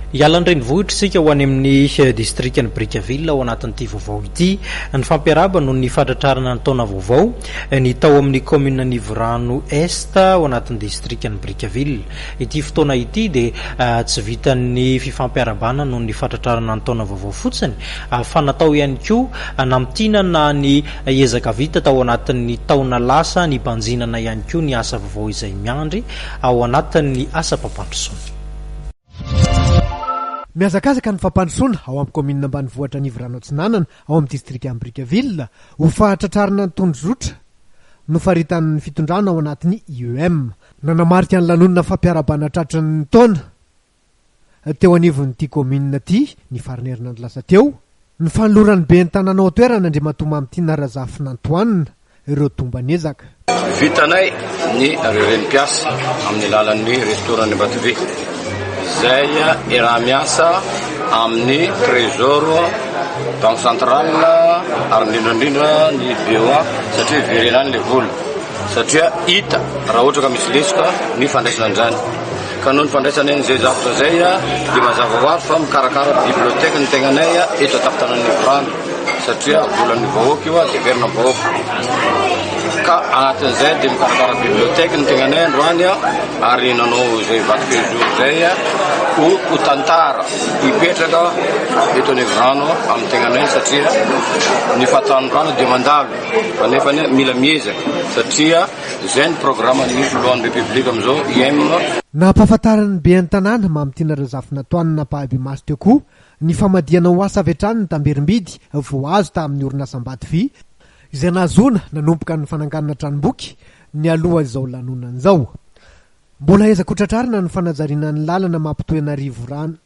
Hiala an-drenivohitra isika ho any amin'ny distrikan'i Brickaville ao anatin'ity vaovao ity. Ny fampiarahaba noho ny fahatratrarana ny taona vaovao ny tao amin'ny kaominina Anivorano Est ao anatin'ny distrikan'i Brickaville. Ity fotoana ity dia ah, tsy vitan'ny fifampiarahabana noho ny fahatratrarana ny taona vaovao fotsiny ah, fa natao ihany koa hanamtinana ny ezaka vita tao anatin'ny taona lasa, nibanjinana ihany koa ny asa vaovao izay miandry ao anatin'ny asam-pampandrosoana. Mihazakazaka ny fampandrosoana ao amin'ny kaominina ambanivohitra Anivorano Atsinanana ao amin'ny distrikan'i Brickaville ho fahatratrarana ny tondrozotra nofaritan'ny fitondrana ao anatin'ny IEM. Nanamarika ny lanonana fampiarahabana tratry ny taona teo anivon'ity kaominina ity, ny faran'ny herinandro lasa teo, ny fanoloran'ny ben'ny tanàna ao an-toerana, Andriamatoa Mamitiana Razafinantoanina, ireo tomban'ezaka. Vitanay ny renim-piasa amin'ny alalan'ny restoran'ny Ambatobe, izay iaraha-miasa amin'ny Trésor, Banque centrale ary indrindra indrindra ny BOA satria hiverena any ilay vola satria hita raha ohatra ka misy lesoka ny fandraisana an'izany. Ka noho ny fandraisana an'izay zavatra izay dia mazava ho azy fa mikarakara bibliothèque ny tegnanay eto an-tampon-tanan'i Mivotrano satria volan'ny vahoaka io dia heverina amin'ny vahoaka. Ka anatin'izay dia mikarakara bibliothèque ny tegnanay androany ary nanao izay vato-kely jour izay ho ho tantara hipetraka eto an'Ivotrano amin'ny tegnanay satria ny fahatanorana dia mandalo fa nefany mila miezaka satria Izay ny programan'ny Filohan'ny Repoblika amin'izao, Im. Nampahafantarin'ny Ben'ny tanàna, Mamitiana Razafinatoanina ampahibemaso teo koa ny famadihana ho asa avy hatrany ny tamberim-bidy voahazo tamin'ny orinasam-bato vy, izay nahazoana nanomboka ny fananganana tranomboky nialoha izao lanonana izao. Mbola ahiza koa tratrarina ny fanajariana ny lalana mampitohy an'Arivorano.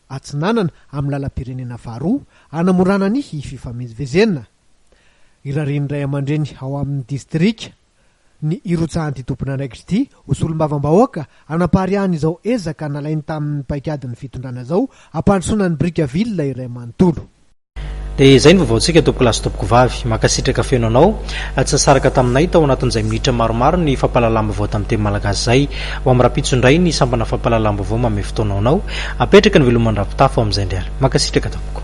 Atsinanana amin'ny lalam-pirenena faharoa hanamorana ny fifamezivezena. Irarian'ny ray aman-dreny ao amin'ny distrika ny hirotsahan'ity tompon'andraikitra ity ho solombavambahoaka hanapariahana izao ezaka nalainy tamin'ny paikadin'ny fitondrana izao hampandrosoana ny Brickaville iray manontolo. Dia izay ny vavaontsika tompoko lahy sy tompoko vavy. Mankasitraka feno anao. Tsy nisaraka taminay tao anatin'izay minitra maromaro ny fampahalalam-baovao tamin'ny teny malagasy izay. Ho amin'ny rahampitso indray ny sampana fampahalalam-baovao manome fotoana ho anao. Apetraka ny veloman-dRampitafo amin'izay indray ary. Mankasitraka tompoko.